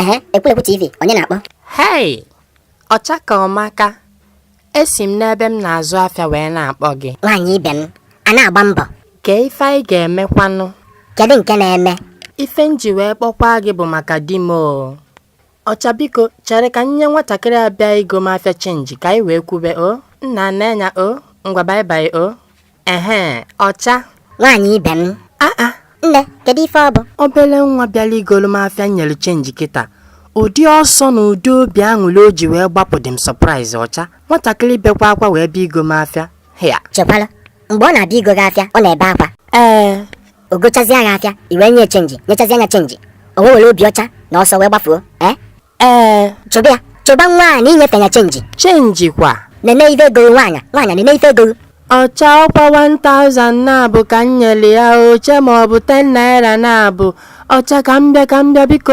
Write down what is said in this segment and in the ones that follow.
ehe ekwulekwu tv onye na-akpọ hei ọcha ka ọmaka esi m n'ebe m na-azụ afịa wee na-akpọ gị nwaanyị ibe m a na-agba mbọ kee ife anyị ga-emekwanụ kedu nke na-eme ife m ji wee kpọkwaa gị bụ maka di m o Ọcha biko chere ka m nye nwatakịrị a bịa igo m afịa chenji ka anyị wee kwube o nna nna anya o ngwa bye bye o ehe ọcha nwaanyị ibe m aa nne kedu ife ọ bụ obele nwa bịalụ igolu m afịa m nyere chenji kịta ụdị ọsọ na ụdị obi aṅụrị o ji wee gbapụ dị m surprise ọcha nwatakịrị bekwa akwa wee bịa igo m afịa hịa chekwala mgbe ọ na-abịa igo gị afịa ọ na-ebe akwa ee o gochazie gị afịa i wee nye chenji nyechazie nụ ya chenji o wee were obi ọcha na ọsọ wee gbafuo ee ee chụba ya chụba nwa a na i nyefe ya chenji chenji kwa nene ife ego nwaanyị nwaanyị nene ife ego ọcha ọkwa 1000 naabọ ka m nyere ya eche m na ọ bụ 10 naira naabọ ọcha ka m bịa ka m bịa biko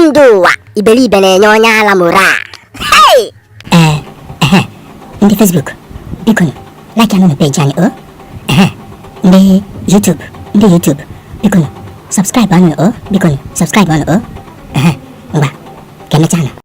Ndị ụwa ibelibe na-enye onye ala morale. Hey! Ee, ehe, ndị Facebook, biko nụ, like anụ peji anyị o. Ehe, ndị YouTube, ndị YouTube, biko nụ, subscribe anụ o, biko nụ, subscribe anụ o. Ehe, ngwa, ka emechaa nụ.